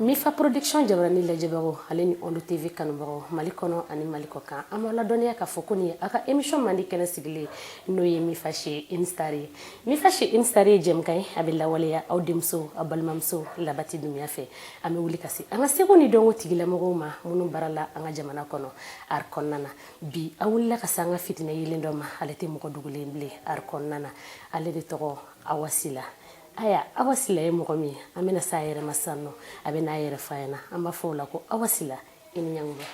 mifa production jabarani lajɛbagaw ale ni ondu tv kanubagaw mali kɔnɔ ani mali kɔ kan an b'a ladɔnniya k'a fɔ ko nin ye a ka émission mandi kɛnɛ sigilen n'o ye mifa chez une star ye mifa chez une star ye jɛmukan ye a bɛ lawaleya aw denmuso aw balimamuso labati dunbiya fɛ an bɛ wuli ka se an ka seko ni dɔnko tigilamɔgɔw ma minnu baara la an ka jamana kɔnɔ art kɔnɔna na bi an wulila ka se an ka fitinɛ yeelen dɔ ma ale tɛ mɔgɔ dogolen bilen art kɔnɔna na ale de tɔgɔ awa sila aya awa sila ye mɔgɔ min ye an bɛna se a yɛrɛ ma sisan nɔ a bɛ n'a yɛrɛ f'an ɲɛna an b'a fɔ o la ko awa sila i ni ɲankuma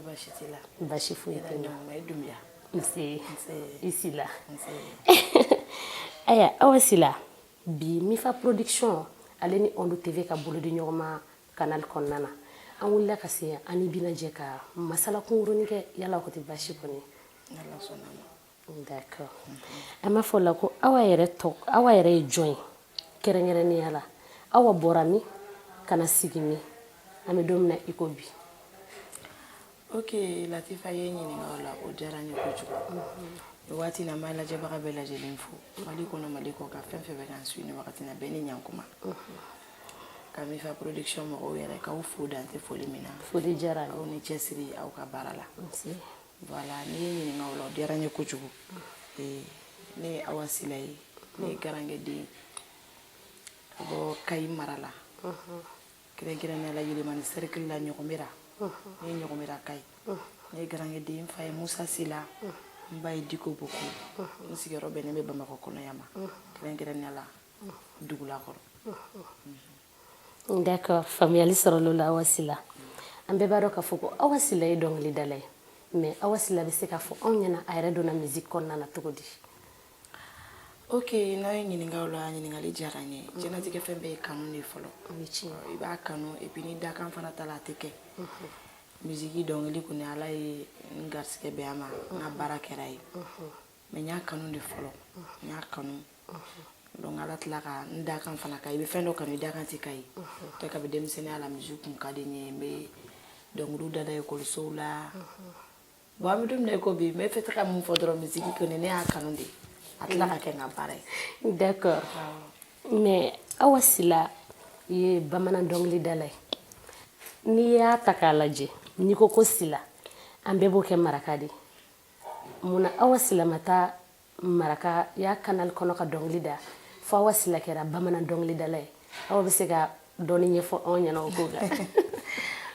basi t'i la basi foyi tɛ n na nse i sila aya awa sila bi mifa production ale ni ondu tv ka bolo di ɲɔgɔn ma kanali kɔnɔna na an wulila ka se an n'i bɛna jɛ ka masala kunkurunin kɛ yala o tɛ basi kɔni d'accord an b'a fɔ o la ko awa yɛrɛ ye jɔn ye kɛrɛnkɛrɛnnenya la awa bɔra min ka na sigi min an bɛ don min na i ko bi ok latifa i ye n ɲininka o la o diyara n ye kojugu nin waati na n b'a lajɛbaga bɛɛ lajɛlen fo mali kɔnɔ mali kɔ kan fɛn o fɛn bɛ k'an suivre nin wagati na bɛɛ ni ɲankuma ka mifa production mɔgɔw yɛrɛ k'aw fo dan tɛ foli min na foli diyara aw ni cɛsiri aw ka baara la voilà n'i ye n ɲininka o la o diyara n ye kojugu ne ye awa sila ye ne ye garankɛden ka bɔ kayi mara la kɛrɛnkɛrɛnnenya la yelimani sɛrikili la ɲɔgɔmera ne ye ɲɔgɔmeraka ye ne ye garankɛden n fa ye musa sila n ba ye diko boko n sigiyɔrɔ bɛnnen bɛ bamakɔ kɔnɔ yan ma kɛrɛnkɛrɛnnenya la dugulakɔrɔ d'accord faamuyali sɔrɔla o la awa sila an bɛɛ b'a dɔn k'a fɔ ko awa sila ye dɔnkilidala ye mais awa sila bɛ se k'a fɔ anw ɲɛna a yɛrɛ donna musique kɔnɔna na cogo di ok n'a ye n ɲininka o la ɲininkali diyara n ye mm. diɲɛlatigɛ fɛn bɛɛ ye kanu de fɔlɔ i b'a kanu epi ni dakan fana t'a la a tɛ kɛ mm-hmm. misiki dɔnkili kɔni ala ye n garisɛgɛ bɛn a ma n ka baara kɛr'a ye mm-hmm. mais n y'a kanu de fɔlɔ mm-hmm. n y'a kanu donc ala tila ka n dakan fana ka i bɛ fɛn dɔ kanu i dakan tɛ k'a ye tɛ kabi denmisɛnninya la misiki kun ka di n ye n bɛ dɔnkiliw dada ekɔlisow la bon an bɛ don min na i ko bi n bɛ fɛ ka mun fɔ dɔrɔn misiki kɔni ne y'a kanu de a tila ka kɛ n ka baara ye d'accord mais awa sila ye bamanan dɔnkilidala ye n'i y'a ta k'a lajɛ n'i ko ko sila an bɛɛ b'o kɛ maraka de ye mun na awa sila ma taa marakaya canal kɔnɔ ka dɔnkili da fo awa sila kɛra bamanan dɔnkilidala ye aw bɛ se ka dɔɔni ɲɛfɔ anw ɲɛna o ko kan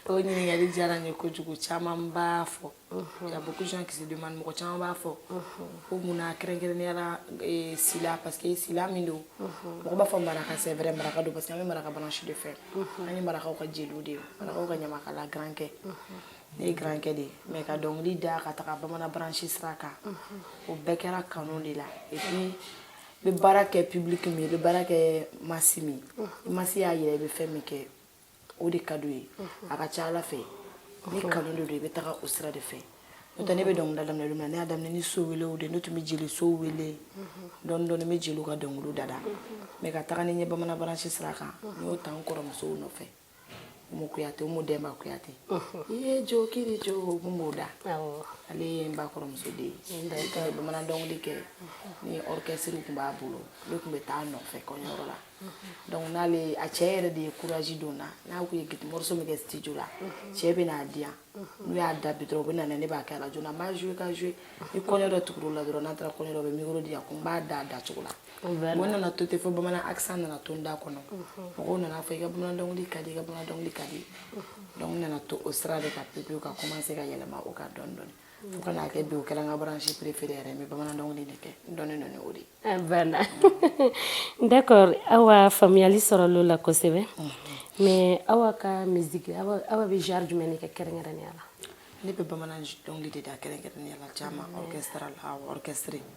o ɲininkali diyara n ye kojugu caman b'a fɔ y a beaucoup de gens qui se demandent mɔgɔ caman b'a fɔ ko mun na kɛrɛnkɛrɛnnenya la eh, sila parce que sila min don mɔgɔ b'a fɔ maraka c'est vrai maraka don parce que an bɛ maraka branche de fɛ an ye marakaw ka jeliw de ye marakaw ka ɲamakala garankɛ ne ye garankɛ de ye mais ka dɔnkili da ka taga bamanan branche sira kan o bɛɛ kɛra kanu de la et puis i bɛ baara kɛ public min i bɛ baara kɛ masse min i masse y'a yira i bɛ fɛn min kɛ o de ka d'u ye a ka ca ala fɛ ni kanu de don i bɛ taga o sira de fɛ n'o tɛ ne bɛ dɔnkilida daminɛ don min na ne y'a daminɛ ni so welew de ne tun bɛ jeli so wele dɔɔni dɔɔni n bɛ jeliw ka dɔnkiliw dada mais ka taga ni n ye bamanan branche sira kan n y'o ta n kɔrɔmusow nɔfɛ umu kuyate umu dɛnba kuyate i ye jo kiri jo umu b'o da ale ye n ba kɔrɔmuso de ye ka ye bamanan dɔnkili kɛ ni orchestre tun b'a bolo ne tun bɛ taa a nɔfɛ kɔɲɔyɔrɔ la donc n'ale a cɛ yɛrɛ de ye courage don n na n'a ko ye guitare morceau min kɛ studio la cɛ bɛ n'a di yan n'u y'a da bi dɔrɔn u bɛ na ne b'a kɛ radio la n b'a jouer ka jouer ni kɔɲɔ dɔ tugura o la dɔrɔn n'an taara kɔɲɔ dɔ u bɛ micro di yan ko n b'a da a dacogo la bon n nana to ten fo bamanan accent nana to n da kɔnɔ mɔgɔw nana fɔ i ka bamanan dɔnkili ka di i ka bamanan dɔnkili ka di donc n nana to o sira de kan pepewu ka commencer ka yɛlɛma o kan dɔɔni dɔɔni fo ka n'a kɛ bi o kɛra n ka branche préférée yɛrɛ n bɛ bamanan dɔnkili de kɛ n dɔnnen don ni o de ye voilà d'accord awa faamuyali sɔrɔl'o la kosɛbɛ mais awa ka musique awa awa bɛ genre jumɛn de kɛ kɛrɛnkɛrɛnnenya la ne bɛ bamanan dɔnkili de da kɛrɛnkɛrɛnnenya la caman orchestre la orchestre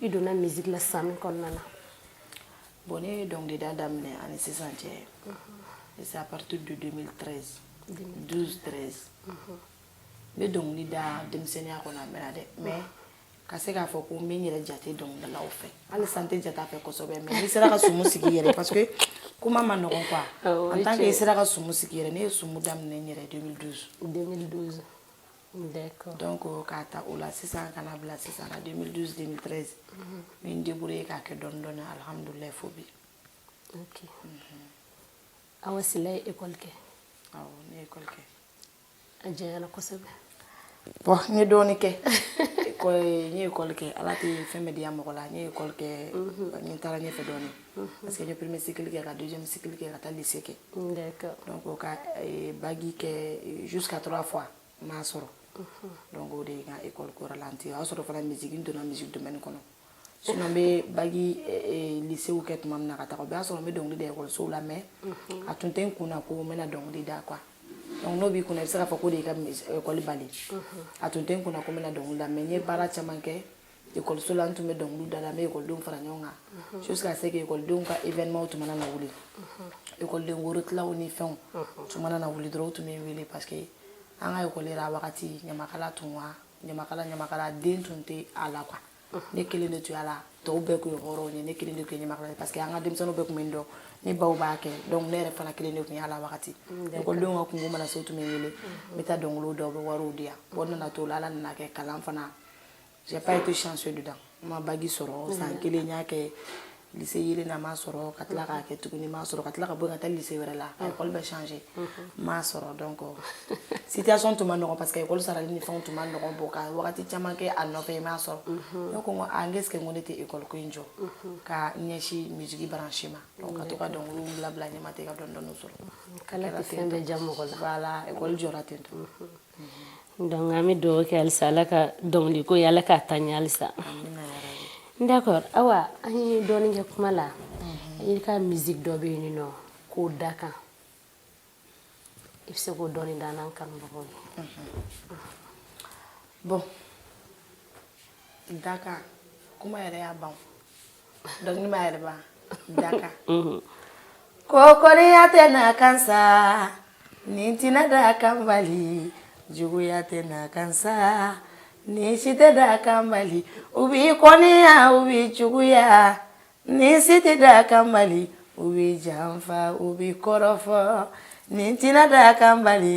i donna musique la san min kɔnɔna na bon ne ye dɔnkilida daminɛ ani sisan cɛ c'est à partir de 2013 12 13 n bɛ dɔnkili da denmisɛnninya kɔnɔ a mɛnna dɛ mais ka se k'a fɔ ko n bɛ n yɛrɛ jate dɔnkilidalaw fɛ hali sisan n tɛ jate a fɛ kosɛbɛ mais n'i sera ka sumu sigi i yɛrɛ parce que kuma man nɔgɔn quoi en tant que i sera ka sumu sigi i yɛrɛ ne ye sumu daminɛ n yɛrɛ 2012 2012 d'accord donc k'a ta o la sisan ka na bila sisan na 2012 2013 n bɛ n débrouiller k'a kɛ dɔɔni dɔɔni alhamdulilayi fo bi ok awa sila ye école kɛ awɔ ne ye école kɛ a janyana kosɛbɛ bon n ye dɔɔni kɛ n ye école kɛ ala tɛ fɛn bɛɛ diya mɔgɔ la n ye école kɛ n taara ɲɛfɛ dɔɔni Mhm. parce que n ye premier cycle kɛ ka deuxième cycle kɛ ka taa lycée kɛ donc ka eh, bagi kɛ eh, jusqu'à trois fois n m'a sɔrɔ mhm. donc o de ye n ka école ko ralentir o y'a sɔrɔ fana musique n donna musique domaine kɔnɔ sinon n bɛ bagi eh, lycéew kɛ tuma min na ka taga o b'a sɔrɔ n bɛ dɔnkili da ekɔlisow la mais mhm. a tun tɛ n kun na ko n bɛna dɔnkili da quoi donc n'o b'i kunna i bɛ se k'a fɔ k'o de y'i ka ekɔli bali a tun tɛ n kunna ko n bɛna dɔnkili da mais n ye baara caman kɛ ekɔliso la n tun bɛ dɔnkiliw da la n bɛ ekɔlidenw fara ɲɔgɔn kan mhm. jusqu'à ce que ekɔlidenw ka événement tun mana na wuli mhm. ekɔliden worotilaw ni fɛnw mhm. tun mana na wuli dɔrɔn u tun bɛ n wele parce que an ka ekɔli yɛrɛ a wagati ɲamakala tun wa ɲamakala ɲamakala den tun tɛ a la quoi ne kelen de tun y'a la tɔw bɛɛ tun ye hɔrɔnw ye ne kelen de tun ye ɲamakala ye parce que an ka denmisɛnninw bɛɛ tun bɛ n dɔn ne baw b'a kɛ donc ne yɛrɛ fana kelen de tun y'a la wagati mm, ekɔlidenw ka kunko mana se u tun bɛ n wele n bɛ taa dɔnkiliw da u bɛ wariw di yan bon n nana to la ala nana kɛ kalan fana j'ai pas été chanceux dedans n ma bac sɔrɔ mm. san kelen n y'a kɛ lycée yelen na n m'a sɔrɔ ka tila k'a kɛ tuguni n m'a sɔrɔ ka tila ka bɔ ka taa lycée wɛrɛ la a école bɛ changer n m'a sɔrɔ donc situation tun ma nɔgɔn parce que école sarali ni fɛnw tun ma nɔgɔn bon ka wagati caman kɛ a nɔfɛ n m'a sɔrɔ ne ko n ko est-ce que n ko ne tɛ école ko in jɔ ka ɲɛsin musique branche ma donc ka to ka dɔnkiliw bila bila ɲɛma ten ka dɔɔni dɔɔni sɔrɔ k'ala tɛ fɛn bɛɛ diya mɔgɔ la voilà école jɔra ten tɔ Donc an bɛ dugawu kɛ halisa ala ka dɔnkili ko ye ala k'a taa ɲɛ halisa d'accord awa an ye dɔɔnin kɛ kuma la i ka musique dɔ bɛ yen n'o ko dakan i bɛ se k'o dɔɔnin da an kanubagaw ye bon dakan kuma yɛrɛ y'a ban dɔnkili b'a yɛrɛ ban dakan ko kɔniya tɛ nakan sa nin tɛna dakan bali juguya tɛ nakan sa nin si tɛ dakan bali u b'i kɔniya u b'i juguya nin si tɛ dakan bali u b'i janfa u b'i kɔrɔfɔ nin tɛna dakan bali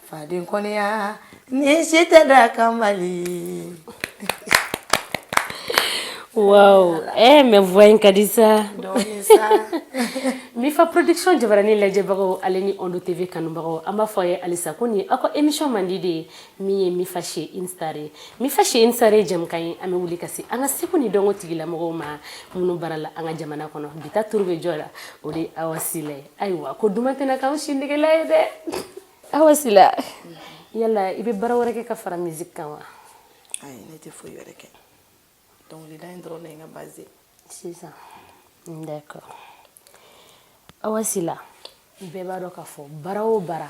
faden kɔniya nin si tɛ dakan bali waaw ee mais voix in ka di sa mifa production jabaranin lajɛbagaw ale ni ondo TV kanubagaw an b'a fɔ a ye halisa ko nin aw ka émission mandi de ye min ye mifa chez une star ye mifa chez une star ye jɛmukan ye an bɛ wuli ka se an ka seko ni dɔnko tigilamɔgɔw ma minnu baara la an ka jamana kɔnɔ bi ta turu bɛ jɔn na o de ye awa sila ye ayiwa ko duman tɛna k'an si negela ye dɛ awa sila yala i bɛ baara wɛrɛ kɛ ka fara musique kan wa ayi ne tɛ foyi wɛrɛ kɛ dɔnkilida in dɔrɔn de ye n ka base ye sisan d'accord awa sila bɛɛ b'a dɔn k'a fɔ baara o baara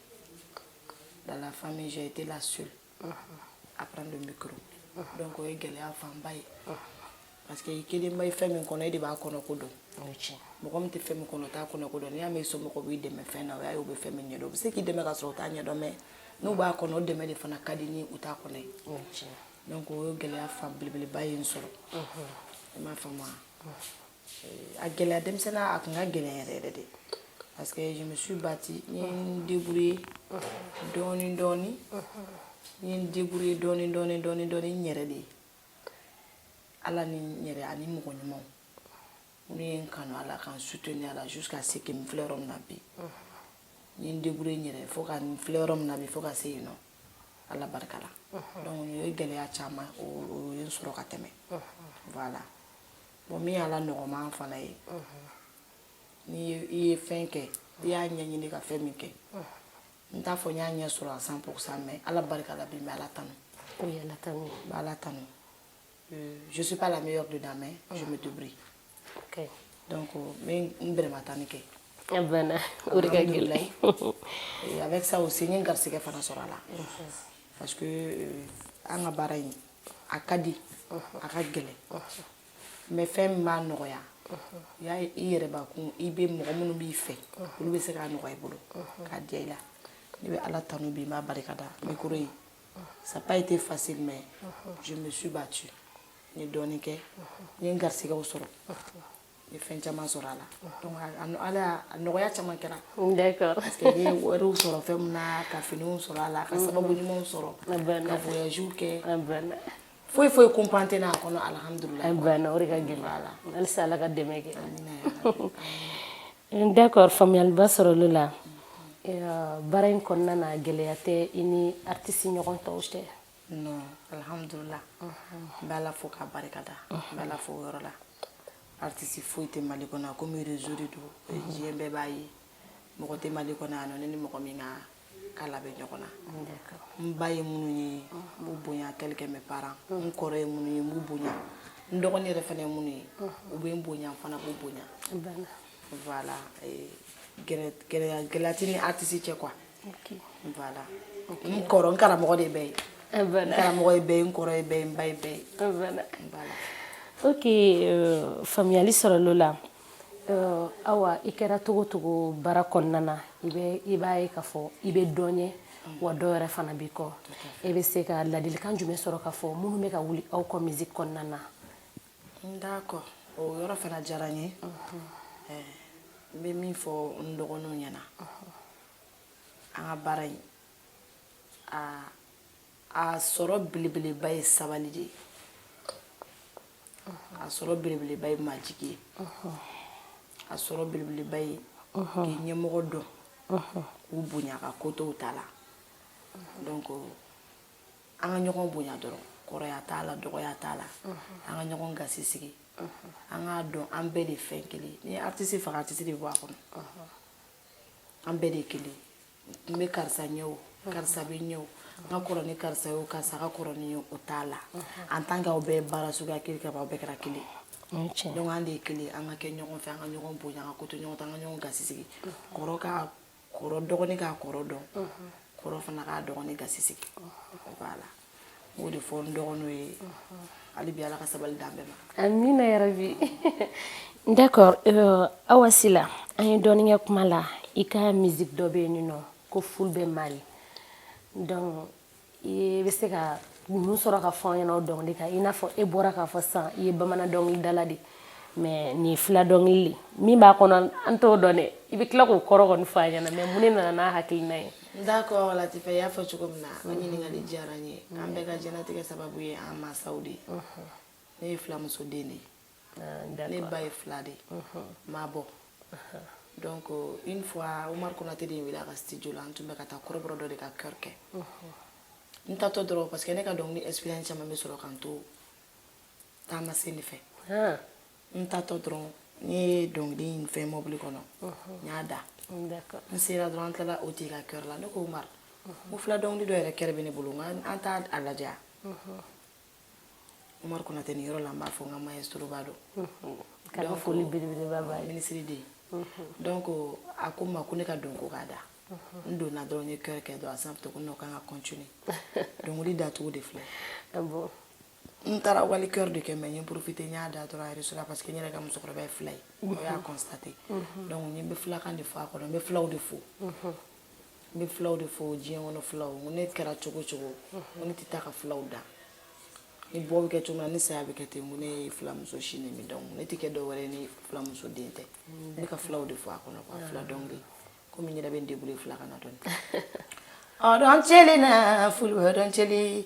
dans la famille j'ai été la seule à prendre le micro donc o ye gɛlɛya fanba ye parce que i kelen bɛ fɛn min kɔnɔ e de b'a kɔnɔ ko dɔn mɔgɔ min tɛ fɛn min kɔnɔ o t'a kɔnɔ ko dɔn n'i y'a mɛn i somɔgɔw b'i dɛmɛ fɛn na o y'a ye u bɛ fɛn min ɲɛdɔn u bɛ se k'i dɛmɛ ka sɔrɔ u t'a ɲɛdɔn mais n'u b'a kɔnɔ o dɛmɛ de fana ka di ni u t'a kɔnɔ ye donc o ye gɛlɛya fan belebeleba ye n sɔrɔ i m'a faamu wa a gɛlɛya denmisɛnninya a tun ka gɛlɛn yɛrɛ yɛrɛ de parce que je me suis battue n ye n débrouiller dɔɔni dɔɔni n ye n débrouiller dɔɔni dɔɔni dɔɔni dɔɔni n yɛrɛ de ye ala ni n yɛrɛ ani mɔgɔ ɲumanw minnu ye n kanu a la ka n soutenir a la jusqu'à ce que n filɛ yɔrɔ min na bi n ye n débrouiller n yɛrɛ ye fo ka n filɛ yɔrɔ min na bi fo ka se yan nɔ ala barika la donc o ye gɛlɛya caman o o ye n sɔrɔ ka tɛmɛ voilà bon min y'a la nɔgɔman fana ye n ye fɛn kɛ n y'a ɲɛɲini ka fɛn min kɛ n t'a fɔ n y'a ɲɛ sɔrɔ à cent pourcent mais ala barika la bi n bɛ ala tanu n bɛ ala tanu euh, je suis pas la meilleure dedans mais je me débrouille okay. donc euh, n bɛ n bɛrɛma tanin kɛ a banna o de ka gɛlɛn avec ça aussi n ye n garisɛgɛ fana sɔrɔ a la parce que euh, an ka baara in a ka di a ka gɛlɛn mais fɛn min b'a nɔgɔya y'a ye i yɛrɛ bakun i bɛ mɔgɔ minnu b'i fɛ olu bɛ se k'a nɔgɔya i bolo k'a diya i la ne bɛ ala tanu bi n b'a barika da min kɔrɔ ye ça pas été facile mais je me suis battue n ye dɔɔnin kɛ n ye n garisigɛw sɔrɔ ye fɛn caman sɔrɔ a la donc ala a nɔgɔya caman kɛra d'accord parce que n ye wariw sɔrɔ fɛn min na ka finiw sɔrɔ a la ka sababu ɲumanw sɔrɔ ka voyage kɛ foyi foyi kunpan tɛ n'a kɔnɔ alhamdulila a banna o de ka gɛlɛn a la halisa ala ka dɛmɛ kɛ d'accord faamuyaliba sɔrɔla o la baara in kɔnɔna na gɛlɛya tɛ i ni artiste ɲɔgɔn tɔw cɛ non alhamdulila n bɛ ala fo k'a barika da n bɛ ala fo o yɔrɔ la artiste foyi tɛ mali kɔnɔ a komi réseau de don diɲɛ bɛɛ b'a ye mɔgɔ tɛ mali kɔnɔ yan nɔ ne ni mɔgɔ min ka kala bɛ ɲɔgɔn na n ba ye minnu ye n b'u bonya tel que mes parents n kɔrɔ ye minnu ye n b'u bonya n dɔgɔnin yɛrɛ fana ye minnu ye u bɛ n bonya n fana b'u bonya voilà gɛlɛya tɛ n ni artiste cɛ quoi N kɔrɔ n karamɔgɔ de bɛɛ ye n karamɔgɔ ye bɛɛ ye n kɔrɔ ye bɛɛ ye n ba ye bɛɛ ye o euh, faamuyali sɔrɔla o la euh, awa i kɛra cogo o cogo baara kɔnɔna na i bɛ i b'a ye k'a fɔ i bɛ dɔ ɲɛ wa dɔ yɛrɛ fana b'i kɔ e bɛ se ka ladilikan jumɛn sɔrɔ k'a fɔ minnu bɛ ka wuli aw kɔ musique kɔnɔna na d'accord o yɔrɔ fana diyara n ye n bɛ min fɔ n dɔgɔninw ɲɛna an ka baara in na a sɔrɔ belebeleba ye sabali de ye a sɔrɔ belebeleba ye majigi ye a sɔrɔ belebeleba ye k'i ɲɛmɔgɔ dɔn k'u bonya ka ko to u ta la donc an ka ɲɔgɔn bonya dɔrɔn kɔrɔya t'a la dɔgɔya t'a la an ka ɲɔgɔn gasi sigi an k'a dɔn an bɛɛ de fɛn kelen ni artiste faga artiste de bɔ a kɔnɔ an bɛɛ de kelen n bɛ karisa ɲɛ o karisa bɛ n ɲɛ o n ka kɔrɔ ni karisa ye o karisa ka kɔrɔ ni n ye o t'a la en tant qu'aw bɛ baara suguya kelen kɛ aw bɛɛ kɛra kelen donc an de ye kelen an ka kɛ ɲɔgɔn fɛ an ka ɲɔgɔn bonya an ka ko to ɲɔgɔn ta an ka ɲɔgɔn gasi sigi kɔrɔ ka kɔrɔ dɔgɔnin k'a kɔrɔ dɔn kɔrɔ fana k'a dɔgɔnin gasi sigi voilà o de fɔ n dɔgɔninw ye hali bi ala ka sabali d'an bɛɛ ma amina yarabi d'accord euh, awa sila an ye dɔɔni kɛ kuma la i ka musique dɔ bɛ yen nɔ ko fulbɛ mali donc i bɛ se ka mun sɔrɔ ka fɔ an ɲɛna o dɔnkili kan i n'a fɔ e bɔra k'a fɔ sisan i ye bamanan dɔnkilidala de mais nin ye fila dɔnkili de min b'a kɔnɔ an t'o dɔn dɛ i bɛ tila k'o kɔrɔ kɔni fɔ an ɲɛna mais mun de nana n'a hakilina ye D'accord latifa i y'a fɔ cogo min na o ɲininkali diyara n ye an bɛɛ ka diɲɛlatigɛ sababu ye an masaw de ye ne ye filamuso den de ye ne ba ye fila de ye mais bon donc une fois umaru konate de ye n wele a ka studio la an tun bɛ ka taa kɔrɔbɔrɔ dɔ de ka chœur kɛ n taatɔ dɔrɔn parce que ne ka dɔnkili expérience caman bɛ sɔrɔ k'an to taama sen de fɛ n taatɔ dɔrɔn n ye dɔnkili in fɛn mɔbili kɔnɔ n y'a da n sera dɔrɔn an tilala o tigi ka chœur la ne ko umaru n ko fila dɔnkili dɔ yɛrɛ chœur bɛ ne bolo nka an t'a a lajɛ umaru konate nin yɔrɔ la n b'a fo n ka maestro ba don kɛra foli belebeleba b'a ye minisiri de ye donc a ko n ma ko ne ka don ko k'a da n donna dɔrɔn n ye chœur kɛ dɔrɔn a sanfɛ ko non k'an ka continuer dɔnkili dacogo de filɛ n taara wali chœur de kɛ mais n ye profiter n y'a da dɔrɔn yɛrɛ la parce que n yɛrɛ ka musokɔrɔba ye fila ye o y'a constater donc n bɛ filakan de fɔ a kɔnɔ n bɛ filaw de fo n bɛ filaw de fo diɲɛ kɔnɔ filaw n ko ne kɛra cogo o cogo n ko ne tɛ taa ka filaw dan ni bɔ bɛ kɛ cogo min na ni saya bɛ kɛ ten ko ne ye filamuso sin de min donc ne tɛ kɛ dɔwɛrɛ ye ni filamuso den tɛ ne ka filaw de fo a kɔnɔ quoi fila dɔnkili komi n yɛrɛ bɛ n débrouiller filakan na dɔɔnin ɔ dɔn cɛlen na fulbɛ dɔn cɛlen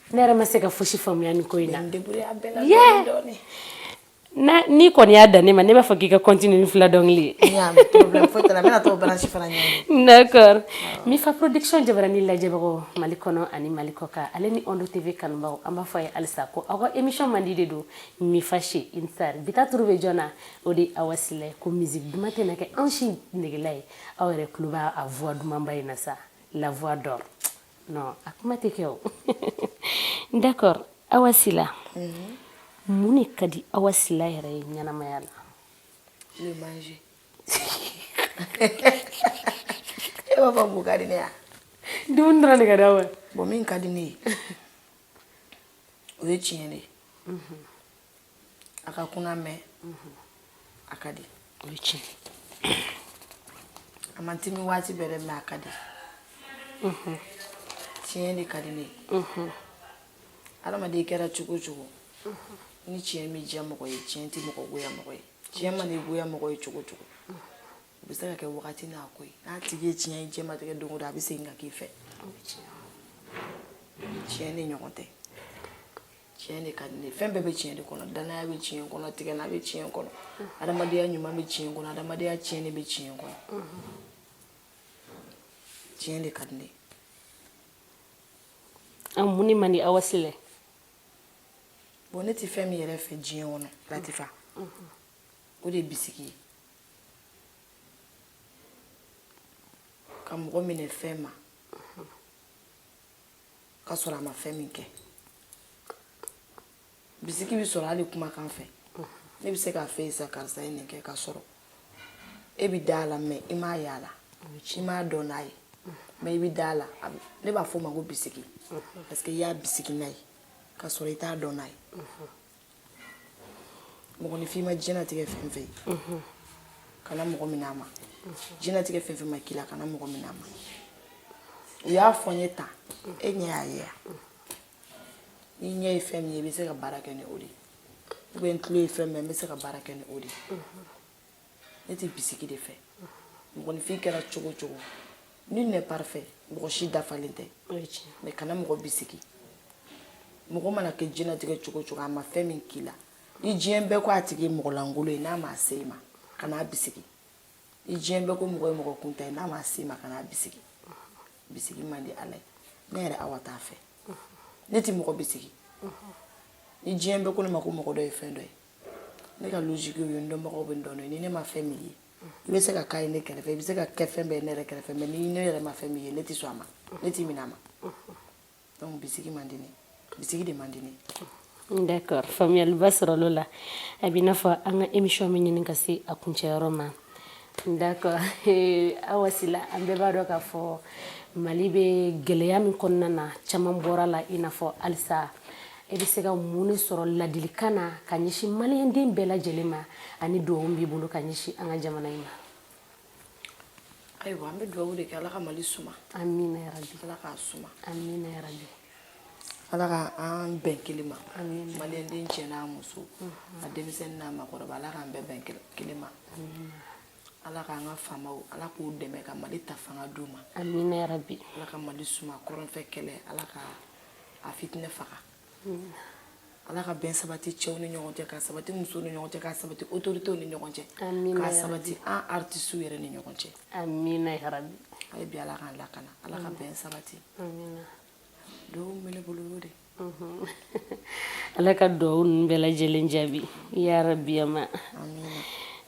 ne yɛrɛ ma se ka fosi faamuya nin ko in na na n'i kɔni y'a dan ne ma ne b'a fɔ k'i ka continuer ni fila dɔnkili d'accord mi fa production jabaranin lajɛbagaw mali kɔnɔ ani mali kɔkan ale ni Onde TV kanubagaw an b'a fɔ aw ye halisa ko aw ka émission mandi de don mi fa chez une star bi ta tour bɛ jɔn na o de ye Awa Sila ye ko musique duman tɛna kɛ anw si negela ye aw yɛrɛ tulo b'a a voix dumanba in na sa la voix d'or non a kuma tɛ kɛ o d'accord awa sila mun de ka di awa sila yɛrɛ ye ɲɛnamaya la le manger e b'a fɔ mun ka di ne ye dumuni dɔrɔn de ka di awa bon min ka di ne ye o ye tiɲɛ de ye a ka kunan mais a ka di o ye tiɲɛ a man timi waati bɛɛ dɛ mais a ka di tiɲɛ de ka di ne ye adamaden kɛra cogo o cogo ni tiɲɛ m'i diya mɔgɔ ye tiɲɛ tɛ mɔgɔ goya mɔgɔ ye tiɲɛ mana i goya mɔgɔ ye cogo o cogo o bɛ se ka kɛ wagati n'a ko ye n'a tigi ye tiɲɛ ye diɲɛlatigɛ don o don a bɛ segin ka k'i fɛ tiɲɛ ni ɲɔgɔn tɛ tiɲɛ de ka di ne fɛn bɛɛ bɛ tiɲɛ de kɔnɔ danaya bɛ tiɲɛ kɔnɔ tigɛna bɛ tiɲɛ kɔnɔ adamadenya ɲuman bɛ tiɲɛ kɔnɔ adamadenya cɛɲi bɛ tiɲɛ kɔnɔ tiɲɛ de ka di ne an mun de man di awa sila ye bon ne tɛ fɛn min yɛrɛ fɛ diɲɛ kɔnɔ latifa o de ye bisigi ye ka mɔgɔ minɛ fɛn ma k'a sɔrɔ a ma fɛn min kɛ bisiki bɛ sɔrɔ hali kumakan fɛ ne bɛ se k'a fɔ sa karisa ye nin kɛ k'a sɔrɔ e bɛ da a la mais i m'a y'a la i m'a dɔn n'a ye mais i bɛ da a la ne b'a fɔ o ma ko bisiki parce que i y'a bisiki n'a ye k'a sɔrɔ i t'a dɔn n'a ye mɔgɔninfin ma diɲɛlatigɛ fɛn fɛn ye kana mɔgɔ minɛ a ma diɲɛlatigɛ fɛn fɛn ma k'i la kana mɔgɔ minɛ a ma u y'a fɔ n ye tan e ɲɛ y'a ye n'i ɲɛ ye fɛn min ye i bɛ se ka baara kɛ ni o de ye ou bien n tulo ye fɛn min ye n bɛ se ka baara kɛ ni o de ye ne tɛ bisigi de fɛ mɔgɔninfin kɛra cogo cogo nul n'est parfait mɔgɔ si dafalen tɛ mais kana mɔgɔ bisigi mɔgɔ mana kɛ diɲɛlatigɛ cogo cogo a ma fɛn min k'i la ni diɲɛ bɛɛ ko a tigi ye mɔgɔ lankolon ye n'a ma se i ma kan'a bisigi ni diɲɛ bɛɛ ko mɔgɔ ye mɔgɔ kuntan ye n'a ma se i ma kan'a bisigi bisigi man di ala ye ne yɛrɛ awa t'a fɛ ne tɛ mɔgɔ bisigi ni diɲɛ bɛɛ ko ne ma ko mɔgɔ dɔ ye fɛn dɔ ye ne ka logique ye n dɔnbagaw bɛ n dɔn ni ne ma fɛn min ye i bɛ se ka k'a ye ne kɛrɛfɛ i bɛ se ka kɛ fɛn bɛɛ ye ne yɛrɛ kɛrɛfɛ mais ni ne yɛrɛ ma fɛn min ye ne tɛ sɔn a ma ne t'i minɛ a ma donc bisigi man di ne bisigi de man di ne d'accord faamuyaliba sɔrɔl'o la a b'i n'a fɔ an ka émission bɛ ɲini ka se a kuncɛyɔrɔ ma d'accord awa sila an bɛɛ b'a dɔn k'a fɔ mali bɛ gɛlɛya min kɔnɔna na caman bɔr'a la i n'a fɔ halisa e bɛ se ka mun de sɔrɔ ladilikan na ka ɲɛsin maliyɛnden bɛɛ lajɛlen ma ani dugawu b'i bolo ka ɲɛsin an ka jamana in ma ayiwa an bɛ dugawu de kɛ ala ka mali suma amina yarabi ala k'a suma amina yarabi ala ka an bɛn kelen ma maliyɛnden cɛ n'a muso a denmisɛnnin n'a makɔrɔba ala k'an bɛɛ bɛn kelen ma ala k'an ka faamaw ala k'u dɛmɛ ka mali ta fanga d'u ma amina yarabi ala ka mali suma kɔrɔnfɛ kɛlɛ ala ka a fitinɛ faga ala ka bɛn sabati cɛw ni ɲɔgɔn cɛ ka sabati musow ni ɲɔgɔn cɛ ka sabati autorités ni ɲɔgɔn cɛ ka sabati an artistes yɛrɛ ni ɲɔgɔn cɛ amina yarabi ayi bi ala k'an lakana ala ka bɛn sabati amina duwawu min bɛ ne bolo y'o de mhm. ala ka duwawu ninnu bɛɛ lajɛlen jaabi yarabi amina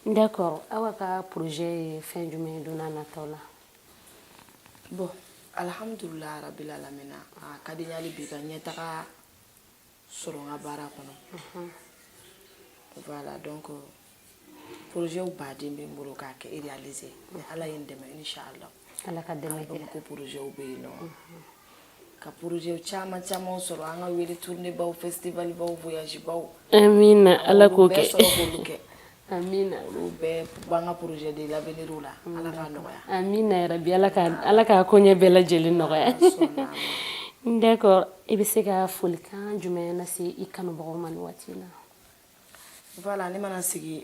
d'accord awa ka projet ye fɛn jumɛn ye don n'a nataw la bon alhamdulillah rabbil alamina a ka di n ye hali bi ka ɲɛtaga sɔrɔ n ka baara kɔnɔ voilà donc projet ba de bɛ n bolo k'a kɛ réaliser ni ala ye n dɛmɛ inchallah ala ka dɛmɛ kɛ ko projet bɛ yen nɔ ka projetw caman caman sɔrɔ an ka wele tournéebaw festivalbaw voyagebaw amina ala k'o kɛ amina olu bɛɛ b'an ka projet de l'avenir la ala k'a nɔgɔya amina yarabi ala ka ala ka koɲɛ bɛɛ lajɛlen nɔgɔya d'accord i bɛ se ka folikan jumɛn lase i kanubagaw ma nin waati na voilà ne mana sigi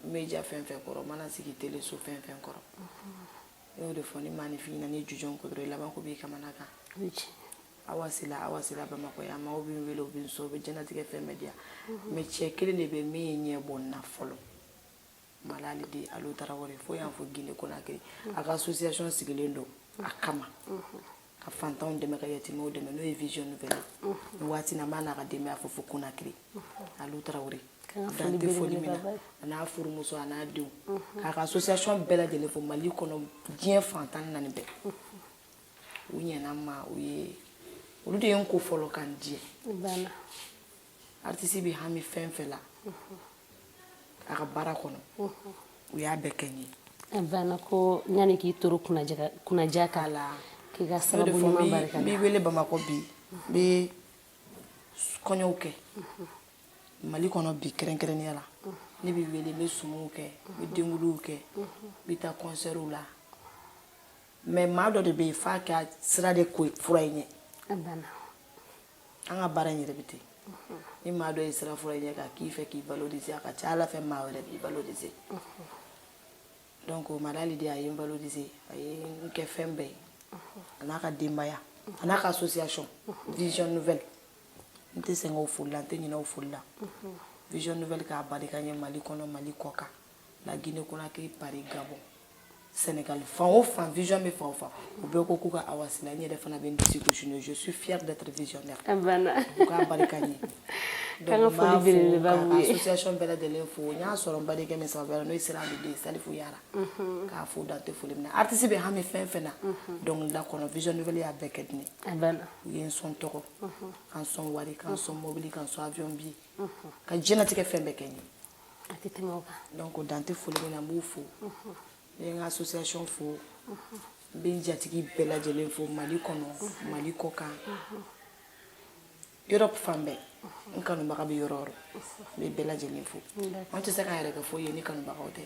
média fɛn fɛn kɔrɔ mana sigi teleso fɛn fɛn kɔrɔ ne y'o de fɔ ni maaninfin ɲinan'i jujɔn kɔ dɔrɔn i labanko b'i kamanagan awa sila awa sila bamakɔ yan maaw bɛ n wele u bɛ n sɔn u bɛ diɲɛnatigɛ fɛn bɛɛ di yan mhm. mais cɛ kelen de bɛ min ye ɲɛ bɔ n na fɔlɔ malali de alu tarawele fo yan fo gine konakiri a ka association sigilen don a kama ka fantanw dɛmɛ ka yatimɛw dɛmɛ n'o ye vision nouvelle ye nin waati na n b'a n'a ka denbaya fo fo konakiri alu tarawele dan tɛ foli min na a n'a furumuso a n'a denw k'a ka association bɛɛ lajɛlen fo mali kɔnɔ diɲɛ fan tan ni naani bɛɛ u ɲɛna ma u ye olu de ye n ko fɔlɔ ka n diɲɛ aritisi bɛ hami fɛn fɛn la a ka baara kɔnɔ u y'a bɛɛ kɛ n ye a banna ko yanni k'i toro kunnaja k'ala k'i ka sababu ɲuman barika n bɛ wele bamakɔ bi n bɛ kɔɲɔw kɛ mali kɔnɔ bi kɛrɛnkɛrɛnnenya la ne bɛ wele n bɛ sumuw kɛ n bɛ denkundiw kɛ n bɛ taa kɔnsɛriw la mɛ maa dɔ de bɛ yen f'a ka sira de ko furan i ɲɛ a banna an ka baara in yɛrɛ bɛ ten ni maa dɔ ye sira furan i ɲɛ k'a k'i fɛ k'i valoriser a ka ca ala fɛ maa wɛrɛ b'i valoriser donc madali de a ye n valoriser a ye n kɛ fɛn bɛɛ ye a n'a ka denbaya a n'a ka association vision nouvelle n tɛ sɛgɛn o foli la n tɛ ɲinɛ o foli la vision nouvelle k'a barika n ye mali kɔnɔ mali kɔ kan la guinée conakry paris gabon Sénégal fan o fan vision bɛ fan o fan u bɛɛ ko k'u ka Awa Sila n yɛrɛ fana bɛ n disi gosi n'o ye je suis fière d'être visionnaire a banna u k'a barika n ye K'an ka foli belebeleba b'u ye. association bɛɛ lajɛlen fo n y'a sɔrɔ n badenkɛ min sababu la n'o ye sira de salifu yara k'a fo dan tɛ foli min na artiste bɛ hami fɛn fɛn na dɔnkilida kɔnɔ vision nouvelle y'a bɛɛ kɛ de n ye a banna u ye n sɔn tɔgɔ ka n sɔn wari ka n sɔn mobili ka n sɔn avion billet ka diɲɛnatigɛ fɛn bɛɛ kɛ n ye a tɛ tɛmɛ o kan donc o dan tɛ foli min na n b'u fo ne ye n ka association fo n bɛ n jatigi bɛɛ lajɛlen fo mali kɔnɔ mali kɔ kan Europe fan bɛɛ n kanubaga bɛ yɔrɔ o yɔrɔ n bɛ bɛɛ lajɛlen fo an tɛ se k'an yɛrɛ kɛ foyi ye ni kanubagaw tɛ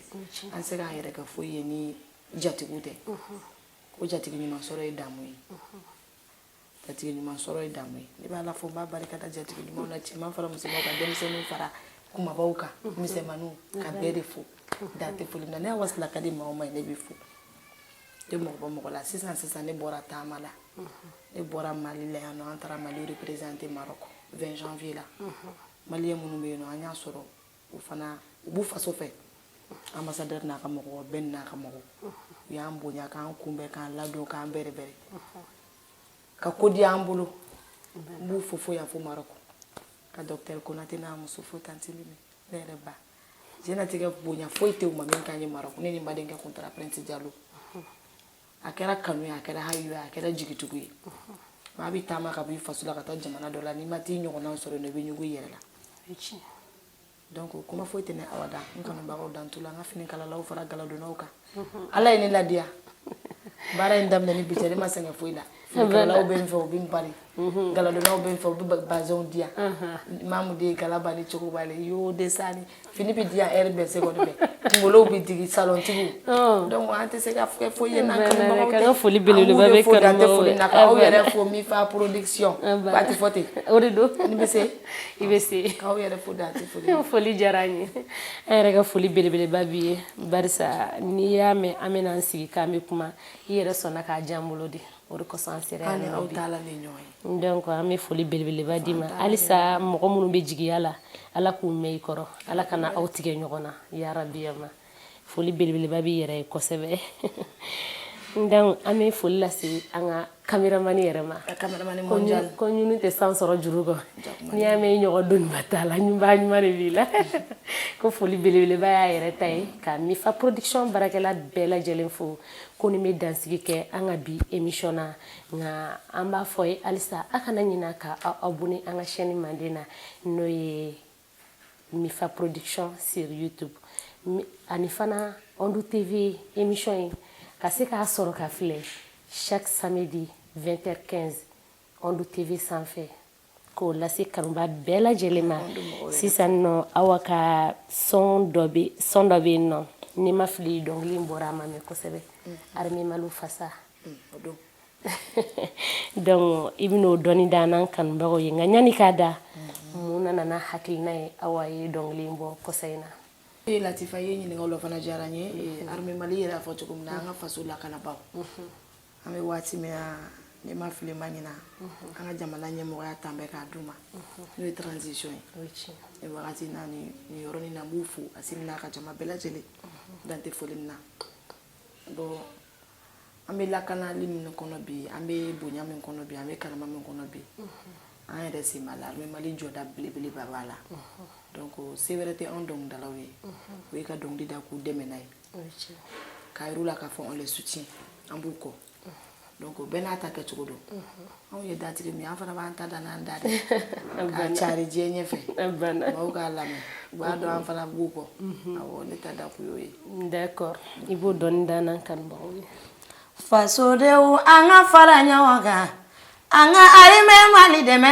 an tɛ se k'an yɛrɛ kɛ foyi ye ni jatigiw tɛ ko jatigi ɲuman sɔrɔ ye damu ye jatigi ɲuman sɔrɔ ye damu ye ne b'ala fo n b'a barika da jatigi ɲumanw na cɛman fara musomanw kan denmisɛnninw fara kunbabaw kan misɛnmaninw ka bɛɛ de fo dan tɛ foli na ne awa sila ka di maa o maa ye ne bɛ fo n tɛ mɔgɔ bɔ mɔgɔ la sisan sisan ne bɔra taama la ne bɔra mali la yan nɔ an taara mali représenter marɔk 20 janvier la maliyɛn minnu bɛ yen nɔ an y'a sɔrɔ u fana u b'u faso fɛ ambassadeur n'a ka mɔgɔ bɛɛ n'a ka mɔgɔ u y'an bonya k'an kunbɛn k'an ladon k'an bɛrɛbɛrɛ ka ko di an bolo n b'u fo fo yan fo marɔku ka docteur konate n'a muso fo tanti mimi ne yɛrɛ ba jɛnatigɛ bonya foyi tɛ u ma min k'an ye marɔku ne ni n badenkɛ kun taara prince jalo a kɛra kanu ye a kɛra hayo ye a kɛra jigitugu ye maa bɛ taama ka b'i faso la ka taa jamana dɔ la n'i ma t'i ɲɔgɔnnaw sɔrɔ yen nɔ i bɛ ɲugu i yɛrɛ la donc kuma foyi tɛ ne awa da n kanubagaw dan t'u la n ka finikalalaw fara galadonnaw kan ala ye ne ladiya baara in daminɛ ni bi cɛ ne ma sɛgɛn foyi la Kalalaw bɛ n fɛ u bɛ n bari mhm. galadonnaw bɛ n fɛ u bɛ bazɛnw di yan mhm. maamu de ye gala bali cogo b'a la y'o de sani fini bɛ di yan heure bɛɛ seconde bɛɛ kunkolow bɛ digi salɔntigiw oh. donc an tɛ se ka kɛ foyi ye n'an kanubagaw tɛ an ka foli belebeleba bɛ kanubagaw ye aw yɛrɛ fo mifa production ba tɛ fɔ ten o de don ni bɛ se i bɛ se k'aw yɛrɛ fo dan tɛ foli foli diyara an ye an yɛrɛ ka foli belebeleba b'i ye barisa n'i y'a mɛn an bɛna an sigi k'an bɛ kuma i yɛrɛ sɔnna k'a di an bolo de o de kosɔn an sera yan nɔ bi donc an bɛ foli belebeleba d'i ma halisa mɔgɔ minnu bɛ jigiya la ala k'u mɛn i kɔrɔ ala kana aw tigɛ ɲɔgɔn na yarabiyama foli belebeleba b'i yɛrɛ ye kosɛbɛ donc an bɛ foli lase an ka kameramani yɛrɛ ma ko ɲunu tɛ san sɔrɔ juru kɔ n'i y'a mɛn i ɲɔgɔn doniba tala ɲunbaa ɲuman de b'i la ko foli belebeleba y'a yɛrɛ ta ye ka mifa production baarakɛla bɛɛ lajɛlen fo ko nin bɛ dansigi kɛ an ka bi emisɔn na nka an b'a fɔ ye halisa aw kana ɲina ka aw abonné an ka chaîne manden na n'o ye mifa production sur youtube ani fana ondu tv emisɔn in ka se k'a sɔrɔ k'a filɛ chaque samedi 20h15 Ondu tv sanfɛ k'o lase kanuba bɛɛ lajɛlen ma sisan nɔ awa ka son dɔ bɛ yen nɔ ni n ma fili dɔnkili bɔra a ma mɛn kosɛbɛ arimɛ mali fasa donc i bɛna o dɔɔni da n'an kanubagaw ye nka ɲani k'a da mun nana n'a hakilina ye awa ye dɔnkili in bɔ kɔsa in na e latifa ye ɲininkali fana diyara n ye arimɛ mali yɛrɛ y'a fɔ cogo min na an ka faso lakanabagaw an bɛ waati min na ne ma fili ma ɲina mhm. an ka jamana ɲɛmɔgɔya tan bɛɛ k'a d'u ma mhm. n'o ye transition ye ni wagati na ni yɔrɔnin na n b'u fo asimi n'a ka jama bɛɛ lajɛlen mhm. dan tɛ foli min na bon an bɛ lakanali min kɔnɔ bi an bɛ bonya min kɔnɔ bi an bɛ karama min kɔnɔ bi an yɛrɛ sen b'a la arimɛ mali jɔda belebeleba b'a la donc se wɛrɛ tɛ anw dɔnkilidalaw ye o ye ka dɔnkili da k'u dɛmɛ n'a ye k'a yir'u la k'a fɔ on les soutient an b'u kɔ donc bɛɛ n'a ta kɛcogo don anw ye datigi min ye an fana b'an ta da n'an da de k'a cari diɲɛ ɲɛfɛ maaw k'a lamɛn u b'a dɔn an fana b'u kɔ awɔ ne ta da kun y'o ye d'accord i b'o dɔɔni da n'an kanubagaw ye fasodenw an ka fara ɲɔgɔn kan an ka arimɛ mali dɛmɛ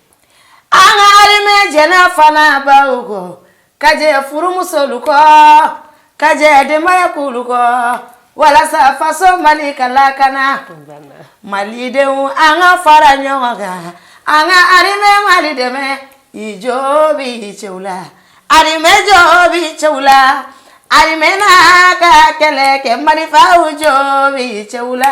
arimɛ jɛnna fa ni baw kɔ ka jɛn furumusow kɔ ka jɛn denbaya kulu kɔ walasa faso mali ka lakana malidenw an ka fara ɲɔgɔn kan an ka arimɛ mali dɛmɛ i jo b'i cɛw la arimɛ jo b'i cɛw la arimɛ n'a ka kɛlɛ kɛ marifaw jo b'i cɛw la